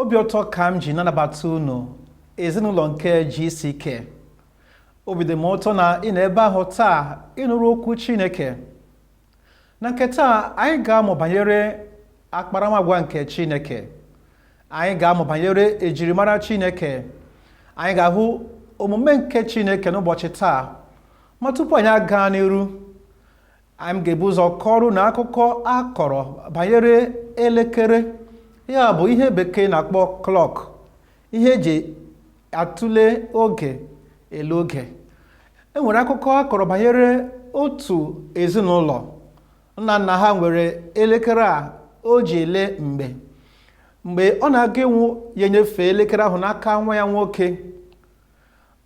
obi ụtọ ka m ji na-anabata unu ezinụlọ nke GCK obi dị m ụtọ na ị nọ ebe ahụ taa ịnụrụ okwu Chineke na nke taa anyị ga-amụ banyere akparamagwa nke chineke anyị ga-amụ banyere ejirimara chineke anyị ga-ahụ omume nke chineke n'ụbọchị taa ma tupu anyị agaa n'iru anyị ga-ebu ụzọ kọọrọ unu akụkọ a kọrọ banyere elekere ya bụ ihe bekee na-akpọ clock ihe eji atụle oge ele oge e nwere akụkọ a kọrọ banyere otu ezinụlọ nna nna ha nwere elekere a o ji ele mgbe mgbe ọ na-aga ịnwụ ya enyefe elekere ahụ n'aka nwa ya nwoke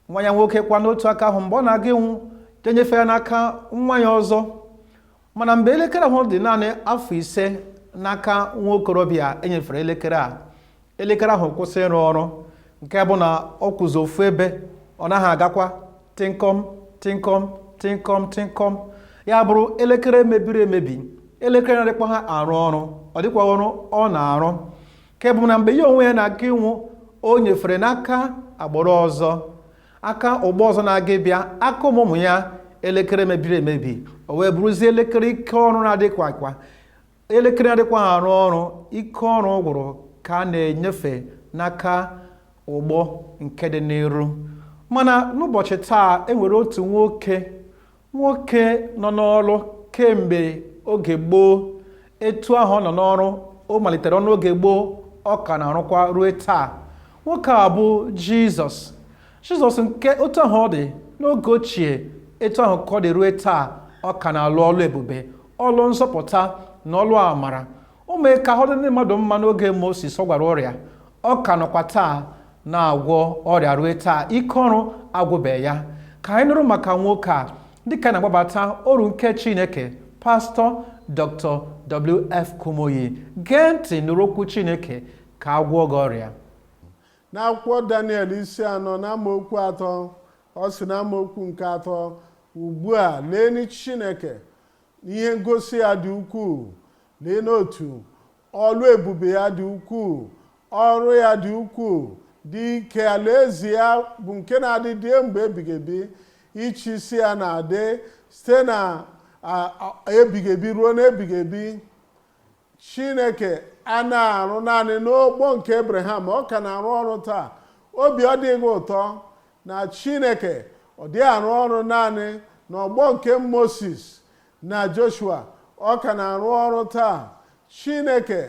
nwa ya nwoke kwa n'otu aka ahụ mgbe ọ na-aga ịnwụ ya enyefe ya n'aka nwa ya ọzọ mana mgbe elekere ahụ dị naanị afọ ise n'aka nwa okorobịa e nyefere elekere a elekere ahụ kwụsị ịrụ ọrụ nke bụ na ọ kwụzi ofu ebe ọ naghị agakwa tịnkọm tịnkọm tịnkọm tịnkọm ya bụrụ elekere mebiri emebi elekere na-adịkwaha arụ ọrụ ọ dịkwa ọrụ ọ na-arụ nke bụ na mgbe ya onwe ya na-aga ịnwụ o nyefere n'aka agbụrụ ọzọ aka ọgbọ ọzọ na-aga ịbịa aka ụmụ ụmụ ya elekere mebiri emebi o wee bụrụzie elekere ike ọrụ na-adịkwahakwa elekere na-adịkwaha arụ ọrụ ike ọrụ gwụrụ ka a na-enyefe n'aka ọgbọ nke dị n'iru mana n'ụbọchị taa enwere otu nwoke nwoke nọ n'ọrụ kemgbe oge gboo etu ahụ ọ nọ n'ọrụ o malitere ọlụ oge gboo ọ ka na-arụkwa ruo taa nwoke a bụ jizọs jizọs nke otu ahụ ọ dị n'oge ochie etu ahụ ka ọ dị ruo taa ọ ka na-alụ ọlụ ebube ọlụ nzọpụta na ọlụ amara o mee ka ahụ dị ndị mmadụ mma n'oge Moses ọ gwọrọ ọrịa ọ ka nọkwa taa na-agwọ ọrịa rue taa ike ọrụ agwụbeghị ya ka anyị nụrụ maka nwoke a dịka anyị na-akpọbata oru nke Chineke pastọ Dr. WF Kumuyi gee ntị nụrụ okwu Chineke ka a gwọọ gị ọrịa n'akwụkwọ Daniel isi anọ na amaokwu atọ ọ sị na amaokwu nke atọ ugbu a leeni Chineke Ihe ngosi ya dị ukwuu, leenụ otu ọlụ ebube ya dị ukwuu, ọrụ ya dị ukwuu, dị ike, alaeze ya bụ nke na-adịgide mgbe ebighị ebi, ịchị isi ya na-adị site na ebighị ebi ruo n'ebighị ebi. chineke anaghị arụ naanị n'ọgbọ nke abraham ọ ka na-arụ ọrụ taa obi ọ dịghị ụtọ na chineke ọ dịghị arụ ọrụ naanị n'ọgbọ nke moses na joshua ọ ka na-arụ ọrụ taa chineke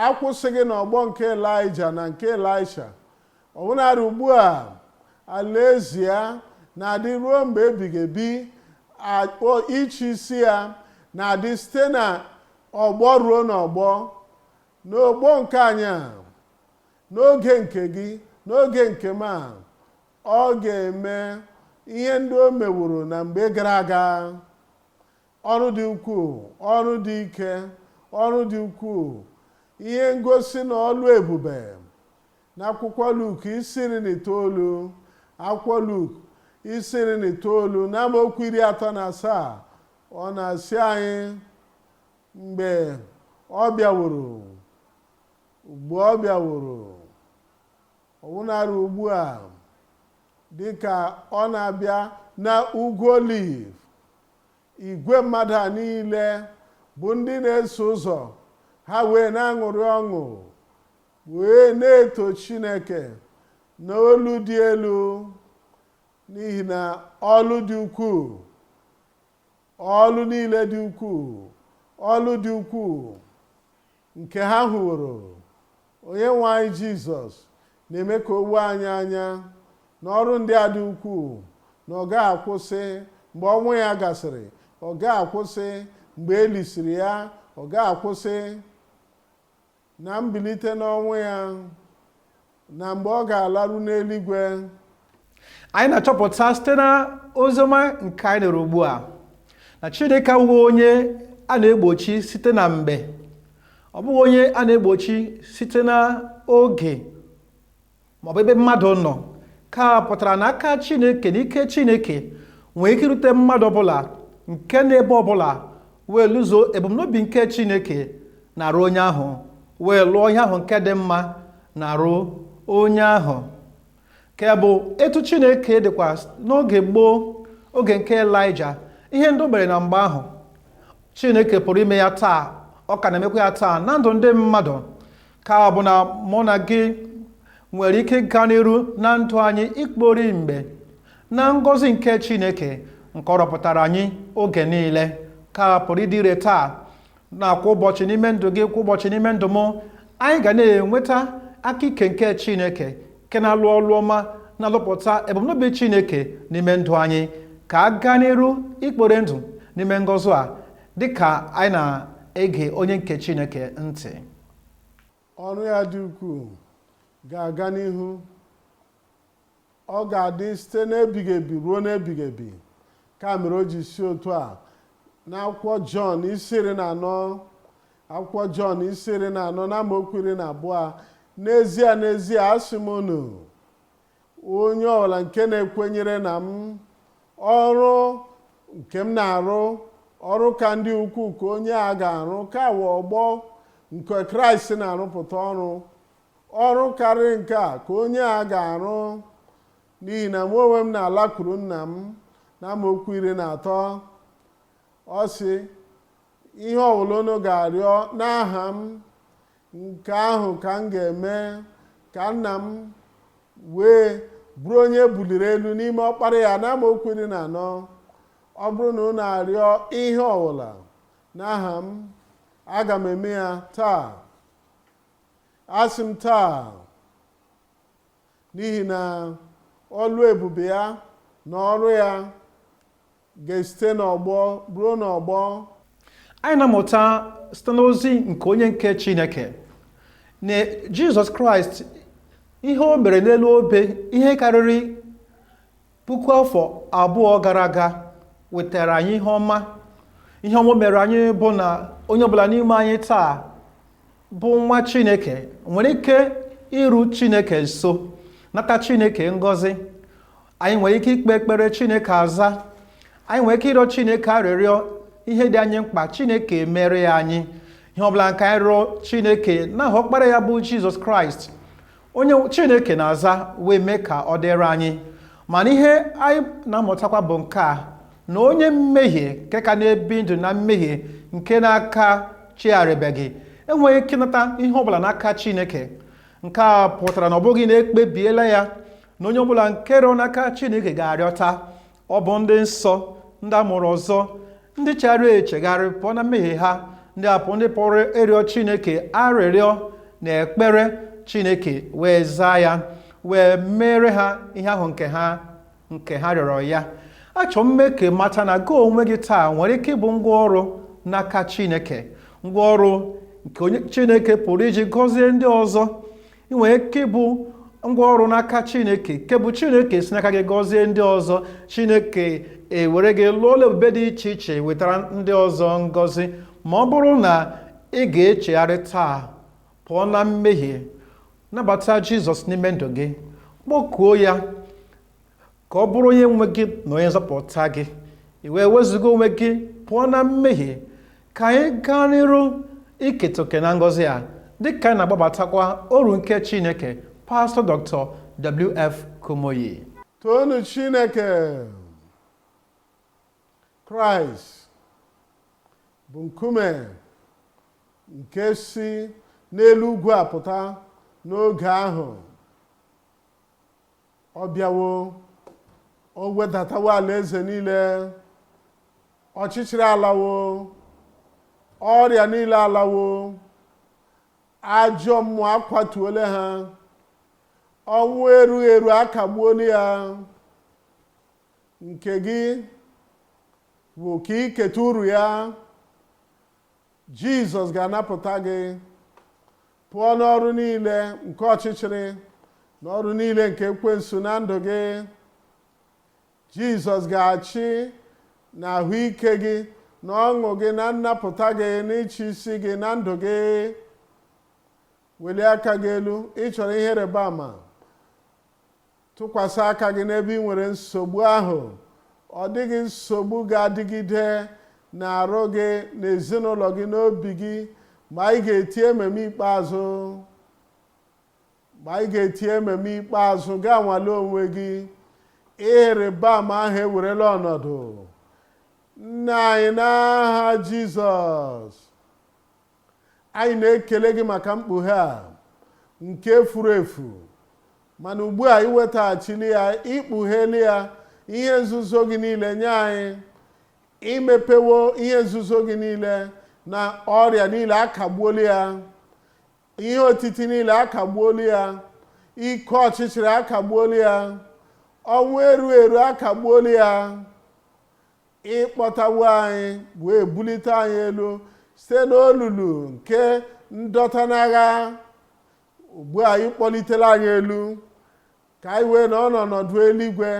akwụsịghị n'ọgbọ nke elija na nke elisha ọbụnadị ugbu a alaeze ya na-adị ruo mgbe ebighị ebi ịchị isi ya na-adị site na ọgbọ ruo n'ọgbọ n'ọgbọ nke anyị a n'oge nke gị n'oge nke m a ọ ga-eme ihe ndị o meworo na mgbe gara aga ọrụ dị ukwuu ọrụ dị ike ọrụ dị ukwuu ihe ngosi na ọlụ ebube n'akwụkwọ Luk isi iri na itoolu akwụkwọ Luk isi iri na itoolu n'amaokwu iri atọ na asaa ọ na-asị anyị mgbe ọ bịaworo mgbe ọ bịaworo ọbụnarị ugbu a dị ka ọ na-abịa na ugwu oliv igwe mmadụ a niile bụ ndị na-eso ụzọ ha wee na-aṅụrị ọṅụ wee na-eto chineke n'olu dị elu n'ihi na ọlụ dị ukwuu ọlụ niile dị ukwuu ọlụ dị ukwuu nke ha hụworo onye nwe anyị jizọs na-eme ka o wee anyị anya na ọrụ ndị a dị ukwuu na ọ gaghị akwụsị mgbe ọnwụ ya gasịrị ọ gaghị akwụsị mgbe e lisiri ya ọ gaghị akwụsị na mbilite n'ọnwụ ya na mgbe ọ ga-alaru n'eluigwe anyị na-achọpụta site na oziọma nke anyị nụrụ ugbu a na chineke abụghị onye a na-egbochi site na mgbe ọ bụghị onye a na-egbochi site na oge maọbụ ebe mmadụ nọ nke a pụtara na aka chineke na ike chineke nwere ike irute mmadụ ọbụla nke nọ ebe ọbụla wee lụzuo ebumnobi nke chineke n'arụ onye ahụ wee lụọ ihe ahụ nke dị mma n'arụ onye ahụ nke bụ etu chineke dịkwa n'oge gboo oge nke elija ihe ndị o mere na mgbe ahụ chineke pụrụ ime ya taa ọ ka na-emekwa ya taa na ndụ ndị mmadụ ka ọ bụ na mụ na gị nwere ike ịga n'iru na ndụ anyị ikpori mgbe na ngọzi nke chineke nke ọ rọpụtara anyị oge niile ka pụrụ ịdị ire taa na kwa ụbọchị n'ime ndụ gị kwa ụbọchị n'ime ndụ m anyị ga na-enweta aka ike nke chineke nke na-alụ ọlụ ọma na-alụpụta ebumnobi chineke n'ime ndụ anyị ka a gaa n'iru ikpori ndụ n'ime ngọzi a dịka anyị na-ege onye nke chineke ntị ọrụ ya dị ukwuu ga-aga n'ihu ọ ga-adị site n'ebighị ebi ruo n'ebighị ebi ka mere o ji sị otu a n'akwụkwọ jọn isi iri na anọ akwụkwọ jọn isi iri na anọ na amaokwu iri na abụọ n'ezie n'ezie asị m unu onye ọbụla nke na-ekwenyere na m ọrụ nke m na-arụ ọrụ ka ndị ukwuu ka onye a ga-arụ ka wụ ọgbọ nke kraịst na-arụpụta ọrụ ọrụ karịrị nke a ka onye a ga-arụ n'ihi na mụ onwe m na-alakwuru nna m na amaokwu iri na atọ ọ sị ihe ọbụla unu ga-arịọ n'aha m nke ahụ ka m ga-eme ka nna m wee bụrụ onye e buliri elu n'ime ọkpara ya na amaokwu iri na anọ ọ bụrụ na unu arịọ ihe ọbụla n'aha m aga m eme ya taa asị m taa n'ihi na ọlụ ebube ya na ọrụ ya Ga-esite n'ọgbọ ruo n'ọgbọ. Anyị na-amụta site n'ozi nke onye nke Chineke na Jizọs Kraịst ihe o mere n'elu obe ihe karịrị puku afọ abụọ gara aga wetara anyị ihe ọma ihe ọma mere anyị bụ na onye ọbụla n'ime anyị taa bụ nwa chineke nwere ike iru chineke nso nata chineke ngọzi anyị nwere ike ikpe ekpere chineke aza anyị nwere ike ịrịọ chineke arịrịọ ihe dị anyị mkpa chineke emere ya anyị ihe ọbụla nke anyị rịọ chineke n'aha ọkpara ya bụ jizọs kraịst onye chineke na-aza wee mee ka ọ dịrị anyị mana ihe anyị na-amụtakwa bụ nke a na onye mmehie nke ka na-ebi ndụ na mmehie nke na-akachigharịbeghị enweghị ike ịnata ihe ọbụla n'aka chineke nke a pụtara na ọ bụghị na e kpebiela ya na onye ọbụla nke rịọ n'aka chineke ga-arịọta ọ bụ ndị nsọ ndị a mụrụ ọzọ ndị chegharịrị echegharị pụọ na mmehie ha ndị apụ ndị pụrụ ịrịọ chineke arịrịọ na ekpere chineke wee zaa ya wee meere ha ihe ahụ nke ha rịọrọ ya achọ m ime ka ị mata na gị onwe gị taa nwere ike ịbụ ngwa ọrụ n'aka chineke ngwa ọrụ nke onye chineke pụrụ iji gọzie ndị ọzọ ị nwere ike ịbụ ngwa ọrụ n'aka chineke nke bụ chineke si n'aka gị gọzie ndị ọzọ chineke ewere gị lụọ ọlụ ebube dị iche iche wetara ndị ọzọ ngọzi ma ọ bụrụ na ị ga-echegharị taa pụọ na mmehie nabata jizọs n'ime ndụ gị kpọkuo ya ka ọ bụrụ onye nwe gị na onye nzọpụta gị i wee wezụga onwe gị pụọ na mmehie ka anyị gaa n'iru iketa oke na ngọzi a dịka anyị na-agbabatakwa oru nke chineke pastọ dr wf kumuyi toonụ chineke kraịst bụ nkume nke si n'elu ugwu apụta n'oge ahụ ọ bịawo o wedatawo alaeze niile ọchịchịrị alawo ọrịa niile alawo ajọ mmụọ akwatuole ha ọnwụ erughị eru akagbuola ya nke gị bụ ka i keta uru ya Jizọs ga-anapụta gị pụọ n'ọrụ niile nke ọchịchịrị na ọrụ niile nke ekwensu na ndụ gị Jizọs ga-achị na ahụike gị na ọṅụ gị na nnapụta gị na ịchị isi gị na ndụ gị welie aka gị elu ị chọrọ ihe ịrịba ama Tụkwasị aka gị n'ebe ị nwere nsogbu ahụ. Ọ dịghị nsogbu ga-adịgide n'arụ gị, n'ezinụlọ gị, n'obi gị mgbe anyị ga-eti amen ikpeazụ mgbe anyị ga-eti amen ikpeazụ gaa nwale onwe gị ihe ịrịba ama ahụ ewerela ọnọdụ nna anyị n'aha Jizọs Anyị na-ekele gị maka mkpughe a nke furu efu mana ugbu a iwetaghachili ya ikpugheli ya ihe nzuzo gị niile nye anyị imepewo ihe nzuzo gị niile na ọrịa niile akagbuola ya ihe otiti niile akagbuola ya ike ọchịchịrị akagbuola ya ọnwụ eru eru akagbuola ya ịkpọtawo anyị wee bulite anyị elu site n'olulu nke ndọta n'agha ugbu a ị kpọlitela anyị elu ka anyị wee nọ n'ọnọdụ eluigwe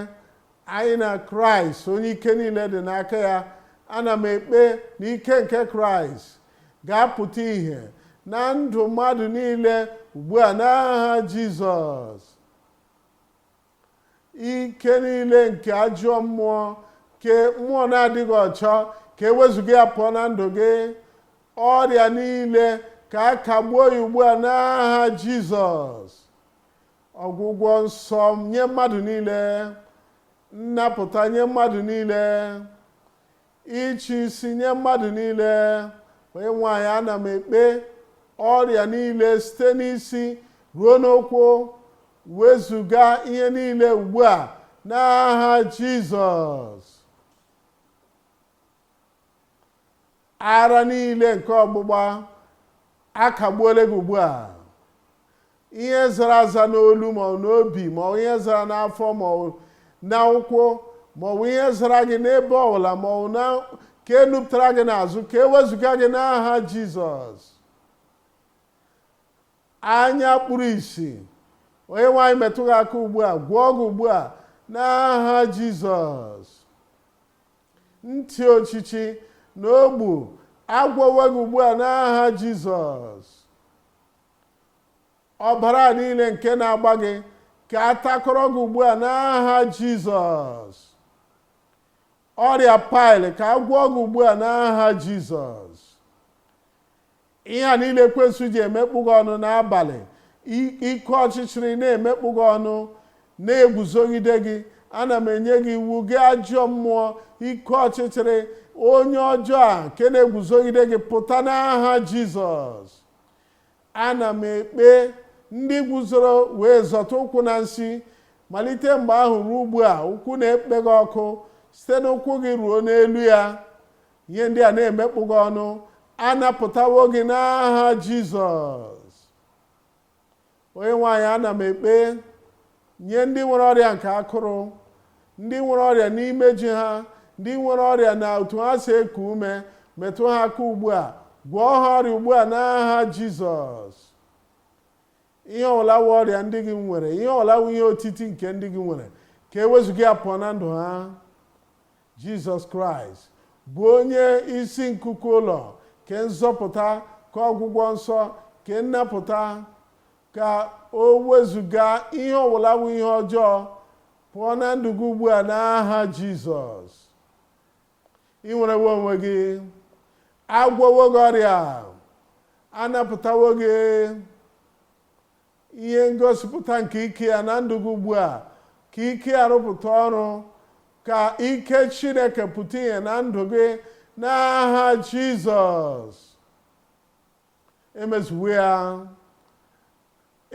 anyị na kraịst onye ike niile dị n'aka ya ana m ekpe na ike nke kraịst ga-apụta ìhè na ndụ mmadụ niile ugbu a n'aha jizọs ike niile nke ajọ mmụọ nke mmụọ na-adịghị ọcha ka e wezuga ya pụọ na ndụ gị ọrịa niile ka a kagbuo ya ugbu a n'aha jizọs ọgwụgwọ nsọ nye mmadụ niile nnapụta nye mmadụ niile ịchị isi nye mmadụ niile onyenwe anyị ana m ekpe ọrịa niile site n'isi ruo n'ụkwụ wezuga ihe niile ugbu a n'aha jizọs ara niile nke ọgbụgba a kagbuola gị ugbu a ihe zara aza n'olu ma ọ n'obi ma ọ ihe zara n'afọ ma ọ n'ụkwụ ma ọ bụ ihe zara gị n'ebe ọbụla ma ọ nke nupụtara gị n'azụ ka e wezuga gị n'aha jizọs anya kpuru ìsì onyenwe anyị metụ gị aka ugbu a gwọọ gị ugbu a n'aha jizọs ntị ochichi na ogbi a gwọwo gị ugbu a n'aha jizọs ọbara niile nke na-agba gị ka a takọrọ gị ugbu a n'aha jizọs ọrịa paịlị ka a gwọọ gị ugbu a n'aha jizọs ihe a niile ekwensu ji emekpọ gị ọnụ n'abalị ike ọchịchịrị na-emekpọ gị ọnụ na-eguzogide gị ana m enye gị iwu gị ajọ mmụọ ike ọchịchịrị onye ọjọọ a nke na-eguzogide gị pụta n'aha jizọs Ana m ekpe ndị guzoro wee zọta ụkwụ na nsi, malite mgbe ahụ ruo ugbu a, ụkwụ na-ekpe gị ọkụ, site n'ụkwụ gị ruo n'elu ya. Ihe ndị a na-emekpọ gị ọnụ, a napụtawo gị n'aha Jizọs. onyenwe anyị ana m ekpe nye ndị nwere ọrịa nke akụrụ ndị nwere ọrịa n'imeju ha ndị nwere ọrịa na otu ha si eku ume metụ ha aka ugbu a gwọọ ha ọrịa ugbu a n'aha jizọs ihe ọbụla wụ ọrịa ndị gị nwere ihe ọbụla wụ ihe otiti nke ndị gị nwere ka e wezuga ya pụọ na ndụ ha Jizọs Kraịst bụ onye isi nkuku ụlọ ka nzọpụta ka ọgwụgwọ nsọ ka nnapụta ka o wezuga ihe ọbụla wụ ihe ọjọọ pụọ na ndụ gị ugbu a n'aha Jizọs i nwerewo onwe gị agwọwo gị ọrịa anapụtawo gị ihe ngosipụta nke ike ya na ndụ gị ugbu a ka ike ya rụpụta ọrụ ka ike chineke pụta ihe na ndụ gị n'aha jizọs emezuwo ya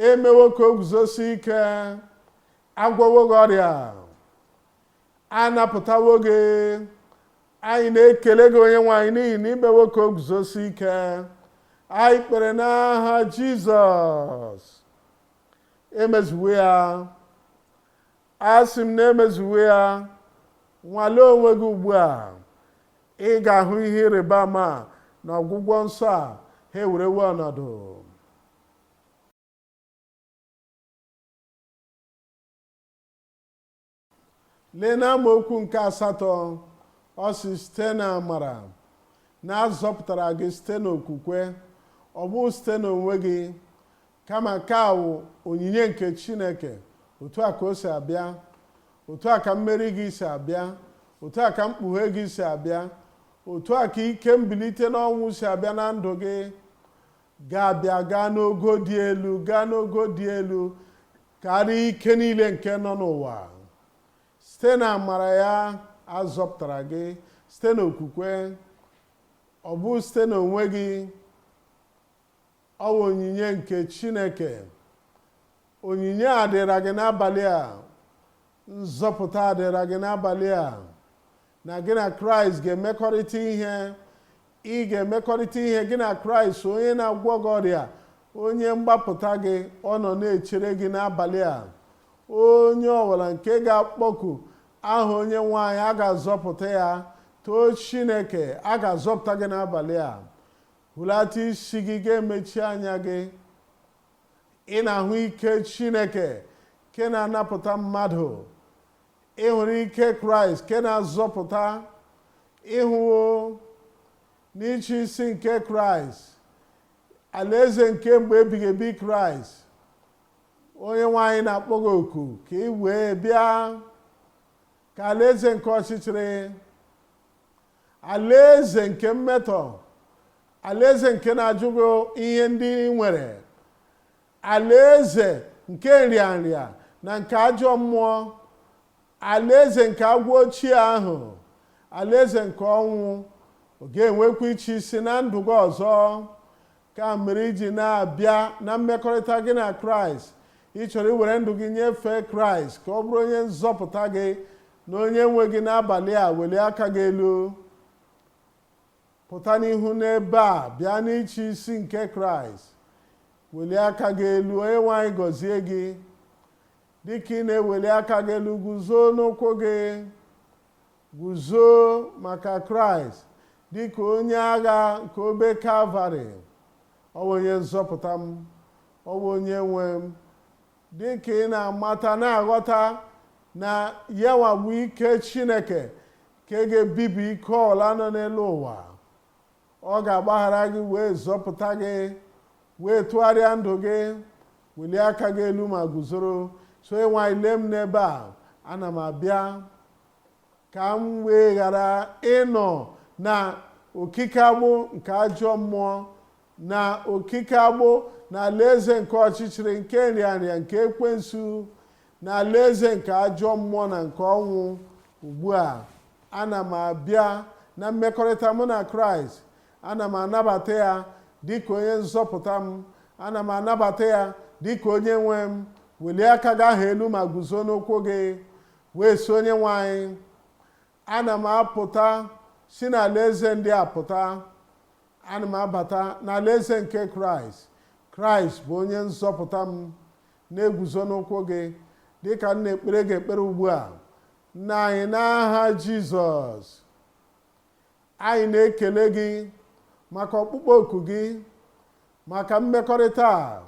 emewo ka o guzosie ike agwọwo gị ọrịa a napụtawo gị anyị na-ekele gị onye nwe anyị n'ihi na i mewo ka o guzosie ike anyị kpere n'aha jizọs emezuwo ya asị m na emezuwo ya nwalee onwe gị ugbu a ị ga-ahụ ihe ịrịba ama na ọgwụgwọ nsọ a ha ewerewo ọnọdụ lee n'amaokwu nke asatọ ọ sị site na amara na a zọpụtara gị site n'okwukwe ọ bụghị site n'onwe gị kama nke a wụ onyinye nke chineke otu a ka o si abịa otu a ka mmeri gị si abịa otu a ka mkpughe gị si abịa otu a ka ike mbilite n'ọnwụ si abịa na ndụ gị ga-abịa gaa n'ogo dị elu gaa n'ogo dị elu karịa ike niile nke nọ n'ụwa site na amara ya a zọpụtara gị site na okwukwe ọ bụghị site na onwe gị ọ bụ onyinye nke chineke onyinye a dịra gị n'abalị a nzọpụta a dịra gị n'abalị a na gị na kraịst ga-emekọrịta ihe ị ga-emekọrịta ihe gị na kraịst onye na-agwọ gị ọrịa onye mgbapụta gị ọ nọ na-echere gị n'abalị a onye ọbụla nke ga-akpọku aha onye nwe anyị a ga-azọpụta ya too chineke a ga-azọpụta gị n'abalị a hulata isi gị ga-emechi anya gị ị na-ahụ ike chineke nke na-anapụta mmadụ ị hụrụ ike kraịst nke na-azọpụta ị hụwo n'ịchị isi nke kraịst alaeze nke mgbe ebighị ebi kraịst onye nwe anyị na-akpọ gị oku ka i wee bịa ka alaeze nke ọchịchịrị alaeze nke mmetọ alaeze nke na-ajụ gị ihe ndị ị nwere alaeze nke nrịanrịa na nke ajọ mmụọ alaeze nke agwọ ochie ahụ alaeze nke ọnwụ ọ ga-enwekwa ịchị isi na ndụ gị ọzọ ka mere i ji na-abịa na mmekọrịta gị na kraịst ị chọrọ iwere ndụ gị nyefee kraịst ka ọ bụrụ onye nzọpụta gị na onye nwe gị n'abalị a welie aka gị elu pụta n'ihu n'ebe a bịa n'ịchị isi nke kraịst welie aka gị elu onye nwe anyị gọzie gị dịka ị na-eweli aka gị elu guzo n'ụkwụ gị Guzo maka Kraịst dị ka onye agha nke obe Kalvarị. Ọ bụ onye nzọpụta m, ọ bụ onye nwe m. Dị ka ị na-amata na-aghọta na yanwa bụ ike Chineke nke ga-ebibi ike ọbụla nọ n'elu ụwa. Ọ ga-agbaghara gị wee zọpụta gị wee tụgharịa ndụ gị welie aka gị elu ma guzoro sị onye nwe anyị lee m n'ebe a ana m abịa ka m wee ghara ịnọ na okike agbụ nke ajọ mmụọ na okike agbụ na alaeze nke ọchịchịrị nke nrịanrịa nke ekwensu na alaeze nke ajọ mmụọ na nke ọnwụ ugbu a ana m abịa na mmekọrịta mụ na kraịst ana m anabata ya dịka onye nzọpụta m ana m anabata ya dịka onye nwe m welie aka gị ahụ elu ma guzo n'ụkwụ gị wee sị onyenwe anyị ana m apụta si n'alaeze ndị a pụta ana m abata n'alaeze nke kraịst kraịst bụ onye nzọpụta m na-eguzo n'ụkwụ gị dịka m na-ekpere gị ekpere ugbu a nna anyị n'aha jizọs Anyị na-ekele gị maka ọkpụkpọ oku gị maka mmekọrịta a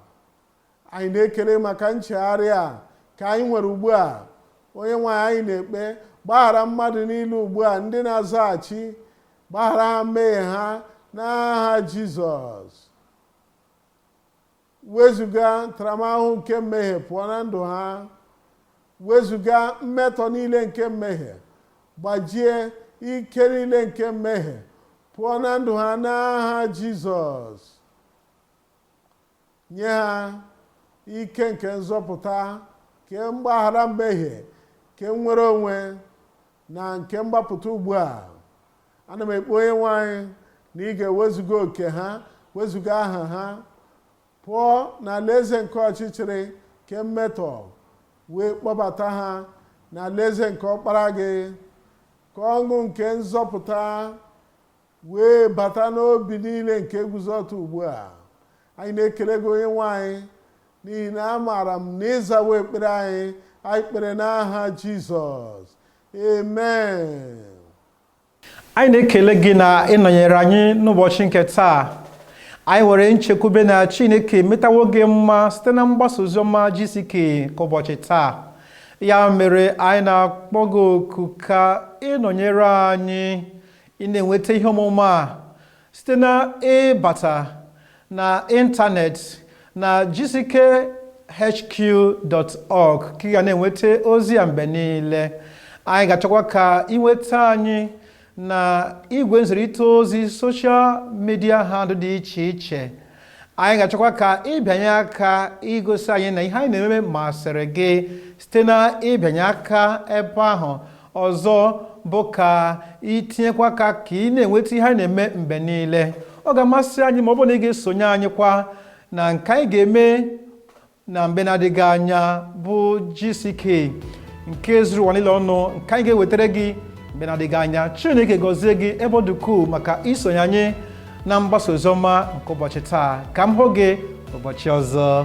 anyị na-ekele gị maka nchegharị a ka anyị nwere ugbu a onye nwe anyị anyị na-ekpe gbaghara mmadụ niile ugbu a ndị na-azaghachi gbaghara ha mmehie ha n'aha jizọs wezuga ntaramahụhụ nke mmehie pụọ na ndụ ha wezuga mmetọ niile nke mmehie gbajie ike niile nke mmehie pụọ na ndụ ha n'aha jizọs nye ha ike nke nzọpụta nke mgbaghara mmehie nke nnwere onwe na nke mgbapụta ugbu a ana m ekpe onye nwe anyị na ị ga-ewezuga oke ha wezuga aha ha pụọ n'alaeze nke ọchịchịrị nke mmetọ wee kpọbata ha n'alaeze nke ọkpara gị ka ọṅụ nke nzọpụta wee bata n'obi niile nke guzo ọtọ ugbu a anyị na-ekele gị onye nwe anyị n'ihi na amaara m na ị zawo ekpere anyị anyị kpere n'aha jizọs amen anyị na-ekele gị na ịnọnyere anyị n'ụbọchị nke taa anyị nwere nchekwube na chineke metawo gị mma site na mgbasa oziọma GCK nke ụbọchị taa ya mere anyị na-akpọ gị oku ka ịnọnyere anyị ị na-enweta ihe ọmụma a site na ịbata na ịntanetị na gckhq.org ka ị ga na-enweta ozi ya mgbe niile anyị ga-achọkwa ka ịnweta anyị na igwe nzirịta ozi social media handle dị iche iche anyị ga-achọkwa ka ịbịanye aka igosi anyị na ihe anyị na-eme eme masịrị gị site na ịbịanye aka ebe ahụ ọzọ bụ ka itinyekwa aka ka ị na-enweta ihe anyị na-eme mgbe niile ọ ga-amasị anyị ma ọ bụrụ na ị ga-esonye anyị kwa na nke anyị ga-eme na mgbe na-adịghị anya bụ GCK nke zuru ụwa niile ọnụ nke anyị ga-ewetara gị mgbe na-adịghị anya Chineke gọzie gị ebe ọ dị ukwuu maka isonye anyị na mgbasa oziọma nke ụbọchị taa ka m hụ gị ụbọchị ọzọ